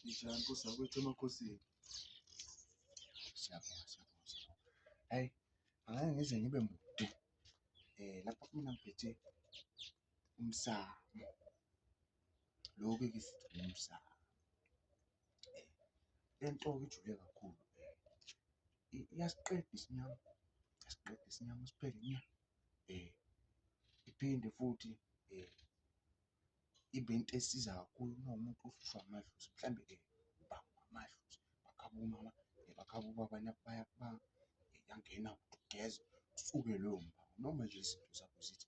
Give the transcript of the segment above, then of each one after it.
Njani nkosi yakwethu emakhosini. Siyabonga siyabonga siyabonga. Hayi, angeke ngize ngibe mude. Eh lapha kumina ngiphethe umsamo lokhu ke sithi umsamo lento ijule kakhulu iyasiqeda isinyama iyasiqeda isinyama siphele nya eh iphinde futhi eh ibe into esiza kakhulu uma umuntu uhlushwa amadlozi mhlambe eh ubamba amadlozi bakhaba umama eh, bakhaba ubaba nabaya ba eh, yangena ugeza usuke loyo mama noma nje izinto zakho zithi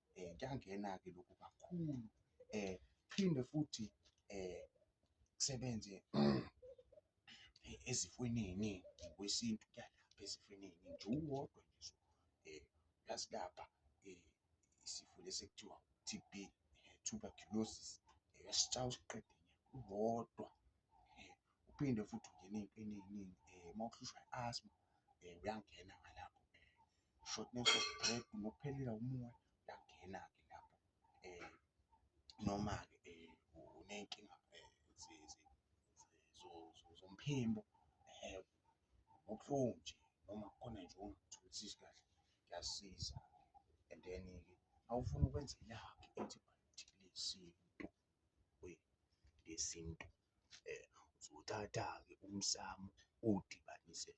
um kuyangena-ke lokhu kakhulu um phinde futhi um kusebenze ezifweni ey'ningi ngokwesintu kuyalapha ezifweni ey'ningi nje uwodwa nje um uyasilapha um isifo lesi ekuthiwa T_B, tuberculosis uyasitshaya usiqede nya uwodwa. um uphinde futhi ungena ey'ntweni ey'ningi um uma uhlushwa i-asthma um uyangena ngalapho um shortness of breath nokuphelelwa umoya uyangena-ke lapho um noma-ke um uney'nkinga um zomphimbo um ubuhlungu nje noma kukhona nje ongakutholisisi kahle kuyasiza and then-ke uma ufuna ukwenza ilaphi i-antibiotic lesintu yesintu uzothatha-ke umsamo uwudibanise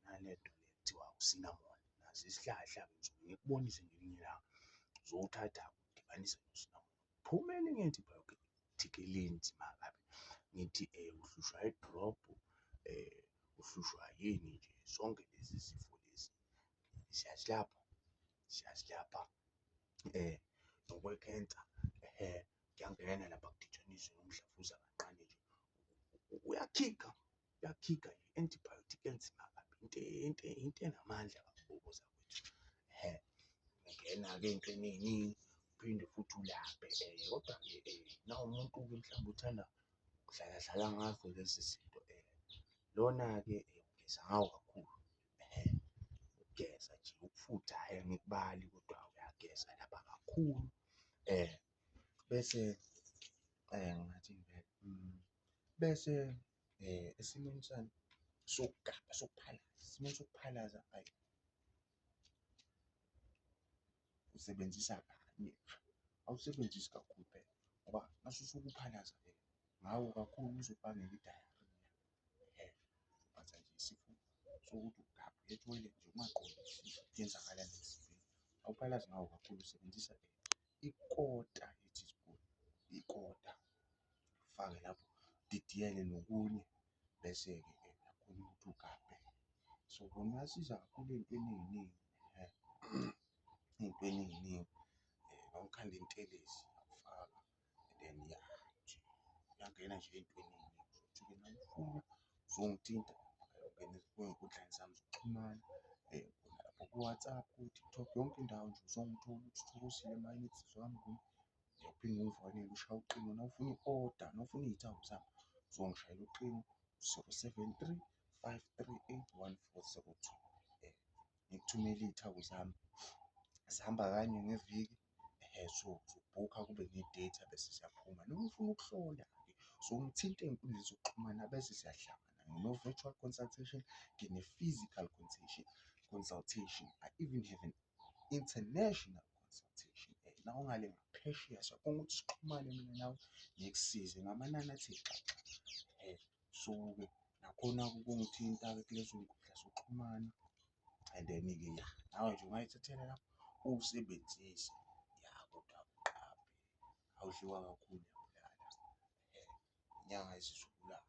nalento le kuthiwa usinamoni, naso isihlahla ngisuke ngikubonise ngelinye ilanga, uzowuthatha udibanise nosinamoni. Kuphume elinye antibiotic elinzima kabi, ngithi uhlushwa i-drop, uhlushwa yini nje, zonke lezi zifo lezi siyazilapha, siyazilapha. eh ngokwecancer eh kuyangena lapha kuditshaniswe umdlavuza kancane nje uyakhipha uyakhipha i-antibiotic enzima kabi into into into enamandla kakhulu zakwethu he ngena ke into eningi uphinde futhi ulaphe eh kodwa ke eh na umuntu ke mhlawumbe uthanda kudlala dlala ngazo lezi zinto eh lona ke eh ugeza ngawo kakhulu Ukugeza nje ukufutha hhayi angikubali kodwa uyageza lapha kakhulu um bese um ngingathini vele hmm, bese um esimweni sami sokugaba sokuphalaza esimweni sokuphalaza ayi usebenzisa kanye awusebenzisi kakhulu phela ngoba mase usuke uphalaza vele ngawo kakhulu uzobangela i-diarrhoea. but nje isifo sokuthi ugabhe ethoyilethi nje ungaqondi yenzakala emzimbeni awuphalazi ngawo kakhulu usebenzisa ikota ye-teaspoon ikota fake lapho didiyele nokunye bese-ke ke nakhona ukuthi ugabhe so kona uyasiza kakhulu ey'ntweni ey'ningi um ey'ntweni ey'ningi um eh, nawukhanda intelezi uyakufaka then ya uyangena nje ey'ntweni mayifuna uzongithinta ayongena ezinkundleni zami zokuxhumana lapho ku-WhatsApp ku-TikTok yonke indawo nje uzongithola ukuthi uthokozile mayinithi zami kum uyaphinde ungifonele ushaye ucingo nawufuna i-oda nawufuna iy'thako zami uzongishayela ucingo zero seven three five three eight one four zero two ngikuthumele iy'thako zami zihamba kanye ngeviki. sobhukha kube ne-date abese siyaphuma noma ufuna ukuhlola so ngithinte ey'nkundleni zokuxhumana bese siyahlangana ngino-virtual consultation ngine-physical consultation consultation I even have an international consultation la ungale ngaphesheya siyakhona ukuthi sixhumane mina nawe ngikusize ngamanani athe xaxa . So-ke nakhona kungithinta-ke kulezo nkundla zokuxhumana and then-ke ya nawe nje ungayithathela lapho uwusebenzise ya kodwa uqaphe awudliwa kakhulu uyabulala inyanga izizobulala.